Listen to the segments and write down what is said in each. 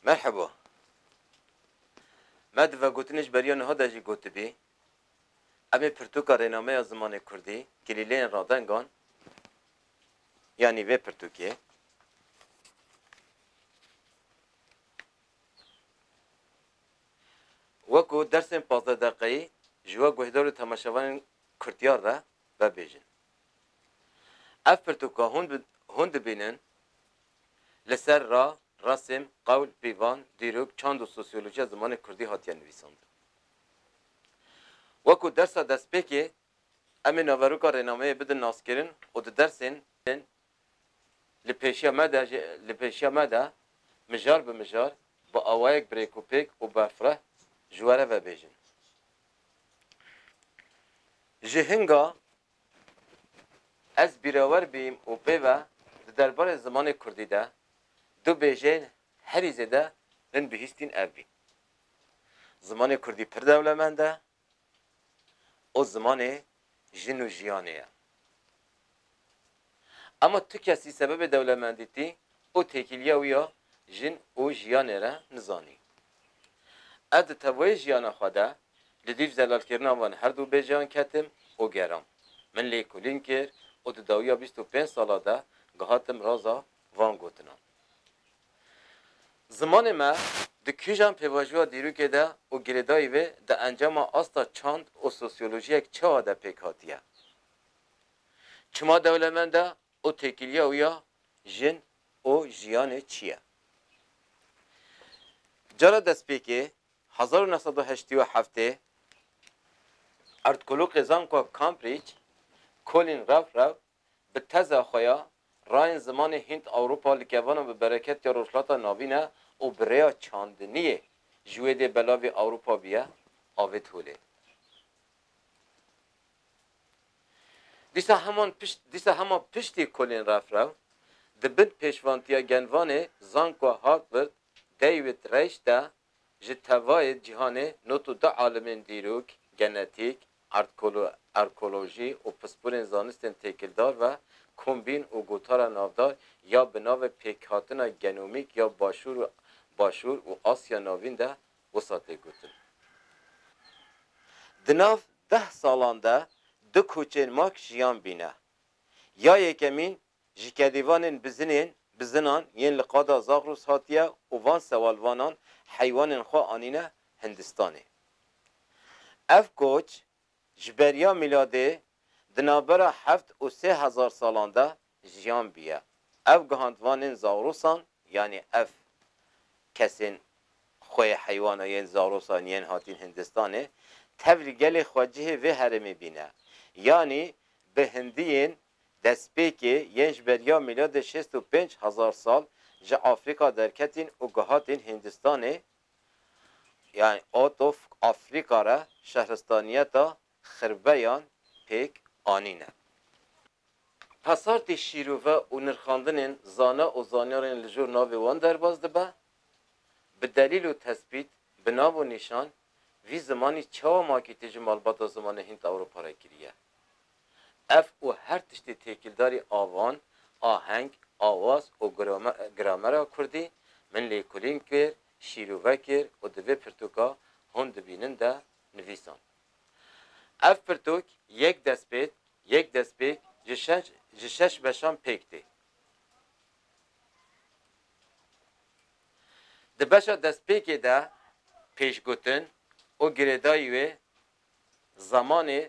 Merheba. Me di vegotinê ji beriya niha de jî gotibî, em ê pirtûka rênameya zimanê kurdî, kilîleyên radengan, yanî vê pirtûkê, wekû dersên pazdeh deqeyî ji we guhdar û temaşevanên kurtyar re vebêjin. Ev pirtûka hûn hûn dibînin li ser ra, resm, qewl, pîvan, dîrok, çand û sosyolojiya zimanê kurdî hatiye nivîsandin. Wek ku dersa destpêkê em ê naveroka rênameyê bidin naskirin û di dersên li pêşiya me de jî li pêşiya me de mijar bi mijar bi awayek birêkûpêk û berfireh ji we re vebêjin. Ji hinga ez bîrewer bîm û pê ve di derbarê zimanê kurdî de du bêjeyên herî zêde min bihîstîn ev bîn, Zimanê kurdî pir dewlemend e û zimanê jin û jiyanê ye. Ema tu kesî sebebê dewlemendîtî û têkiliya wî ya jin û jiyanê re nizanî. Ez di teboyê jiyana xwe de li dîf zelalkirina van her du bêjeyan ketim û geram. Min lêkolîn kir û di dawiya bîst û pênc sala de gihatim raza van gotinan. Zimanê me di kîjan pêvajoya dîrokê de û girêdayî wê di encama asta çand û sosyolojiyek çawa de pêk hatiye? Çima dewlemend e û têkiliya wî ya jin û jiyanê çi ye? Cara destpêkê, hezar û neh sed û heştî û heftê, erdkoloqê zankoa Cambridge, Colin Revrev Bi teza xwe ya, rayên zimanê Hînd-Ewropa li kevanan bi bereketê Rojhilata Navîn e û bi rêya çandiniyê ji wê dê belavê Ewropa biye avêt holê. Dîsa heman pişt dîsa hema piştî kolên refrew, di bin pêşvantiya genvanê Zanko Hakwrt, David Reichter, Ji tevayê cîhanê not û du alimên dîrok, genetîk, arkeolojî û pispûrên zanistên têkildar ve kombîn û gotara navdar ya bi navê pêkhatina genomîk ya Başûr û Başûr û Asya Navîn de wisa tê gotin. Di nav deh salan de du koçên mak jiyan bîne. Ya yekemîn Ji kedêvanên bizinên, bizinan, yên li qada Zagros hatiye û van sewalvanan heywanên xwe anîne Hindistanê. Ev koç ji beriya mîladê di navbera heft û sê hezar salan de jiyan bûye. Ev gihandvanên Zagrosan yanî ev kesên xwe yê heywana yên Zagrosan yên hatîn Hindistanê tev li gelê xwecihê vê herêmê bîne. Yanî bi hindiyên Destpêkê, yên ji beriya mîladê şêst û pênc hezar sal ji Afrîka derketîn û gihatîn Hîndistanê, yanî Out of Africa re şehristaniyeta Xirveyan pêk anîne. Pesartî şîrove û nirxandinên zana û zanyarên li jor navê wan derbas dibe, bi delîl û tespît, bi nav û nîşan, vî zimanî çawa makîtî ji malbata zimanê Hînd-Ewropa re kiriye. Ev û her tiştê têkildarî avan, aheng, awaz û gramera kurdî min lêkolîn kir, şîrove kir û di vê pirtûka hûn dibînin de nivîsand. Ev pirtûk yek destpêk, yek destpêk ji şeş ji şeş beşan pêk tê. Di beşa destpêkê de pêşgotin û girêdayî wê zemanê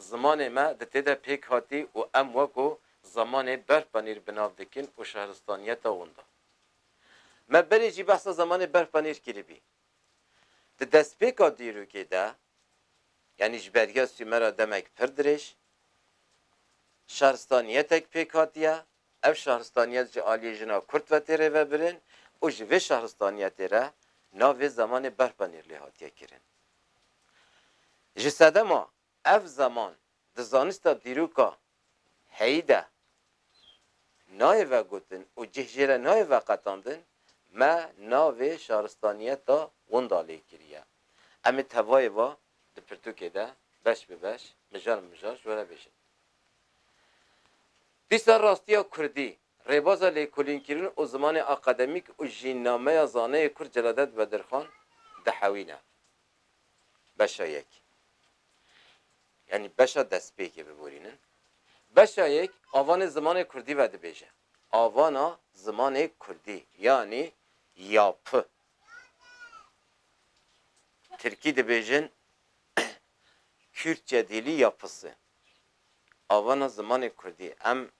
Zimanê me di tê de pêk hatî û em weko zemanê berfpanîr bi nav dikin û şehristaniyeta winda. Me berê jî behsa zemanê berfpanîr kiribî. Di destpêka dîrokê de, yanî ji beriya Sûmera demek pir dirêj, şehristaniyetek pêk hatiye, ev şehristaniyet ji aliyê jina Kurd ve tê rêvebirin û ji vê şehristaniyetê re navê zemanê berfpanîr lê hatiye kirin. Ji sedema ev zeman di zanista dîroka heyî de nayê vegotin û cih jê re nayê veqetandin, me navê şaristaniyeta winda lê kiriye. Em ê tevayê va di pirtûkê de beş bi beş, mijar bi mijar ji we re bêjin. Dîsa rastiya kurdî Rêbaza lêkolînkirin û zimanê akademîk û jînnameya zaneyê kurd Celadet Bedirxan dihewîne beşa yek, yanî beşa destpêkê biborînin. Beşa yek avanê zimanê kurdî vedibêje. Avana zimanê kurdî yanî yapı. Tirkî dibêjin Kürtçe dili yapısı. Avana zimanê kurdî em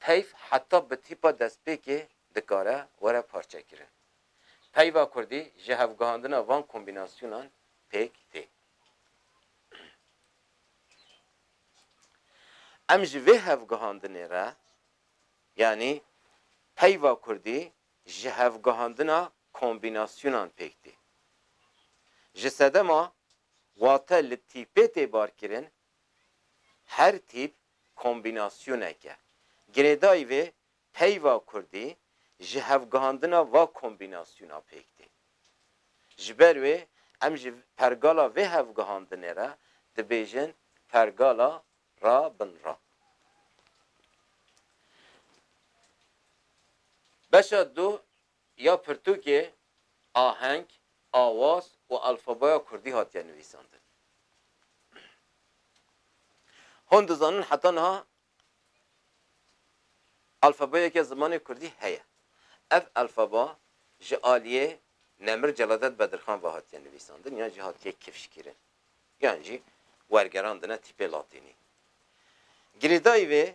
Peyv heta bi tîpa destpêkê dikare were parçekirin. Peyva kurdî ji hevgihandina van kombînasyonan pêk tê. Em ji vê hevgihandinê re yanî peyva kurdî ji hevgihandina kombînasyonan pêk tê. Ji sedema wate li tîpê tê barkirin, her tîp kombînasyonek e. Girêdayî vê peyva kurdî ji hevgihandina va kombînasyona pêk tê. Ji ber wê em ji pergala vê hevgihandinê re dibêjin pergala ra bin ra. Beşa du Ya pirtûkê, aheng, awaz û alfabeya kurdî hatiye nivîsandin. Hûn dizanin heta niha alfabeyeke zimanê kurdî heye. Ev alfaba ji aliyê Nemir Celadet Bedirxan ve hatiye nivîsandin yan jî hatiye kifşkirin yan jî wergerandine tîpê latînî. Girêdayî vê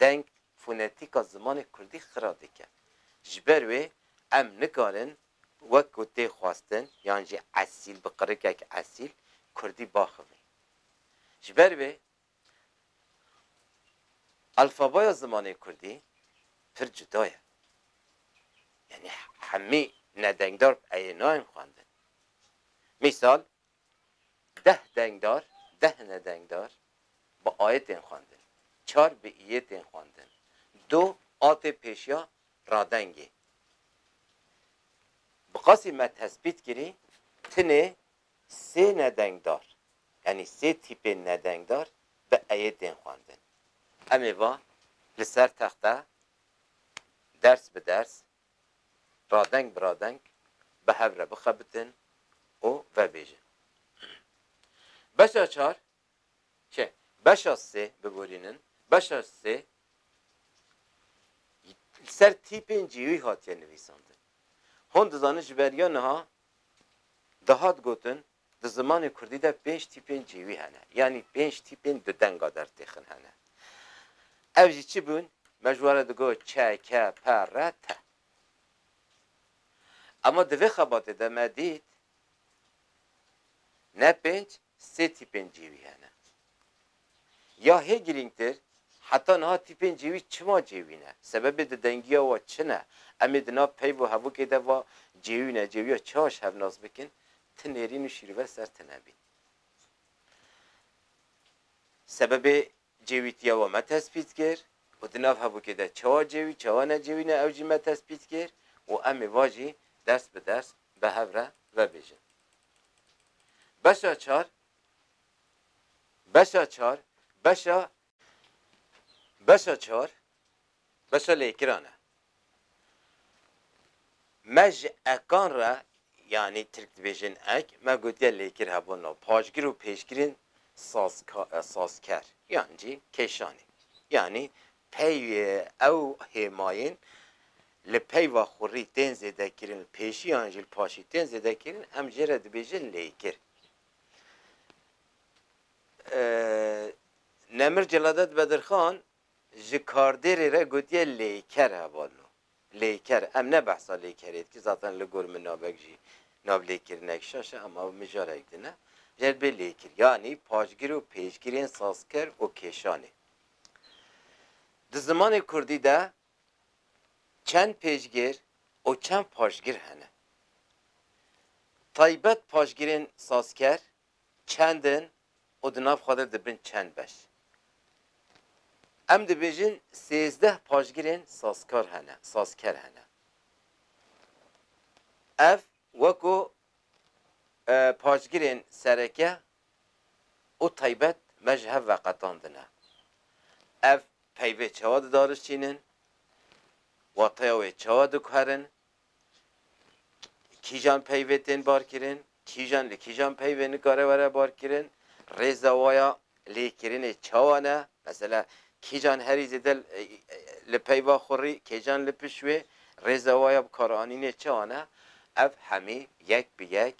Deng fonetîka zimanê kurdî xira dike. Ji ber wê em nikarin wek ku tê xwestin yan jî esîl bi qirikek esîl kurdî baxivin. Ji ber wê alfabaya zimanê kurdî pir cuda ye. Yanî hemî nedengdar bi eyê nayên xwendin. Mîsal Deh dengdar, deh nedengdar bi ayê tên xwendin, çar bi iyê tên xwendin, du a tê pêşiya radengê. Bi qasî me tespît kirî tinê sê nedengdar, yanî sê tîpên nedengdar bi eyê tên xwendin. Em ê va li ser texte ders bi ders radeng bi radeng bi hev re bixebitin û vebêjin. Beşa çar çi? Beşa sê biborînin, beşa sê li ser tîpên cihî hatiye nivîsandin. Hûn dizanin ji ber ya niha dihat gotin Di zimanê kurdî de pênc tîpên cêwî hene, yanî pênc tîpên du denga dertêxin hene. Ev jî çi bûn? Me ji wan re digo çe, ke, pe, re, te. Ema di vê xebatê de me dît ne pênc, sê tîpên cêwî hene. Ya hê girîngtir, heta niha tîpên cêwî çima cêwî ne? Sebebê di dengiya wan çi ne? Em ê di nav peyv û hevokê de va cêwî ne cêwiya çiha ji hev nas bikin, ti nêrîn û şîrove ser ti nebîn. Sebebê cêwîtiya wan me tespît kir û di nav hevokê de çiha cêwî çiha ne cêwî ne ew jî me tespît kir û em ê va jî ders bi ders bi hev re vebêjin. Beşa çar, Beşa çar, beşa Beşa çar, beşa lêkiran e. Me ji ekan re, yanî tirk dibêjin ek, me gotiye lêkir hebûn no, paşgir û pêşgirên sazka sazker yan jî kêşanê. Yanî Peyê ew hêmayên li peyva xurî tên zêdekirin li pêşî yan jî li paşî tên zêdekirin em jê re dibêjin lêkir. Nemir Celadet Bedirxan ji kardêrê re gotiye lêker hevalno. Lêker em ne behsa lêkerê dikir zaten li gor min navek jî nav lêkirinek şaş e ama mijarek din e. Jê re dibê lêkir yanî paşgir û pêşgirên sazker û kêşanê. Di zimanê kurdî de çend pêşgir û çend paşgir hene? Taybet paşgirên sazker çend in û di nav xwe de dibin çend beş? Em dibêjin sêzdeh paşgirên sazkar hene, sazker hene. Ev wek ku paşgirên sereke û taybet me ji hev veqetandine. Ev peyvê çawa didarişînin, wateya wê çawa diguherin, kîjan peyvê tên barkirin, kîjan li kîjan peyvê nikare were barkirin, rêza waya lêkirinê çawa ne, mesela kîjan herî zêde li peyva xurî, kêjan li pişt wê, rêza waya bikaranînê çawa ne, ev hemî yek bi yek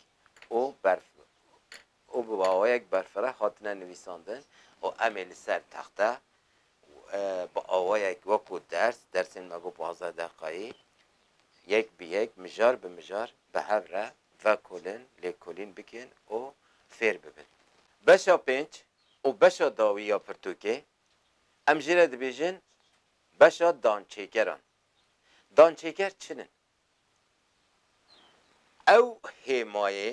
û berf û bi awayek berfireh hatine nivîsandin û em ê li ser texte bi awayek wekû ders, dersên me bo pazdeh deqayî yek bi yek, mijar bi mijar bi hev re vekolin, lêkolîn bikin û fêr bibin. Beşa pênc û beşa dawî ya pirtûkê em jî re dibêjin beşa dançêkeran. Dançêker çin in? Ew hêmayê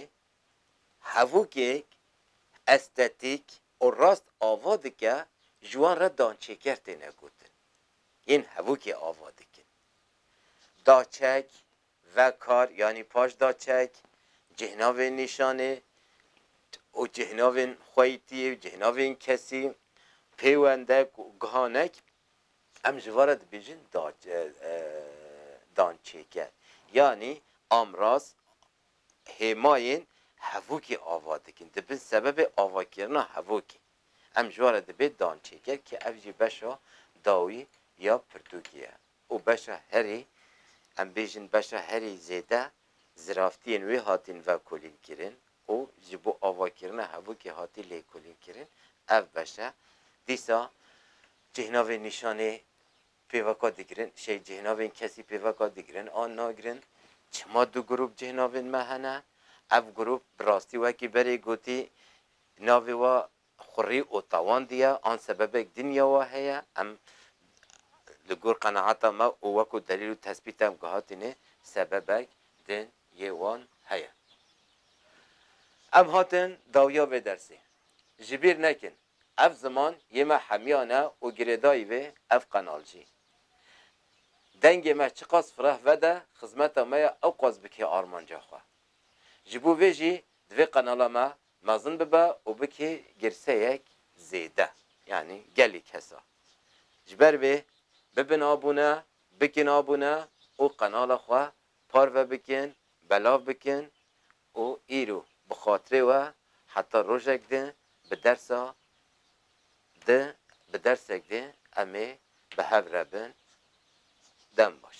hevokek estetîk û rast ava dike ji wan re dançêker têne gotin. Yên hevokê ava dikin. Daçek, vekar yanî paş daçek, cihênavên nîşanê û cihênavên xweytî û cihênavên kesî, pêwendek û gihanek Em ji van re dibêjin dançêker yanî amraz hêmayên hevokê ava dikin, dibin sebebê avakirina hevokê. Em ji van re dibê dançêker ke ev jî beşa dawî ya pirtûkê ye û beşa herî, em bêjin beşa herî zêde ziraftiyên wê hatin vekolînkirin û ji bo avakirina hevokê hatî lêkolînkirin, ev beş e. Dîsa cihênavên nîşanê pêveka digirin, şey cihênavên kesî pêveka digirin an nagirin. Çima du grûp cihênavên me hene? Ev grûp bi rastî wekî berê gotî navê we Xurî û tawan diya an sebebek dinya wa heye, em li gor qenaata me û wekû delîl û tesbît em gihatîne sebebek din yê wan heye. Em hatin dawiya vê dersê. Ji bîr nekin, ev ziman yê me hemiyan e û girêdayî vê ev qenal jî. Dengê me çiqas fireh vede, xizmeta me ya ewqas bike armanca xwe. Ji bo vê jî divê qenala me Mezin bibe û bike girseyek zêde, yanî gelê kesa. Ji ber vê bibin abûne, bikin abûne û qenala xwe parve bikin, belav bikin û îro bi xatirê we heta rojek di bi dersa di bi dersek di em ê bi hev re bin. Dem baş.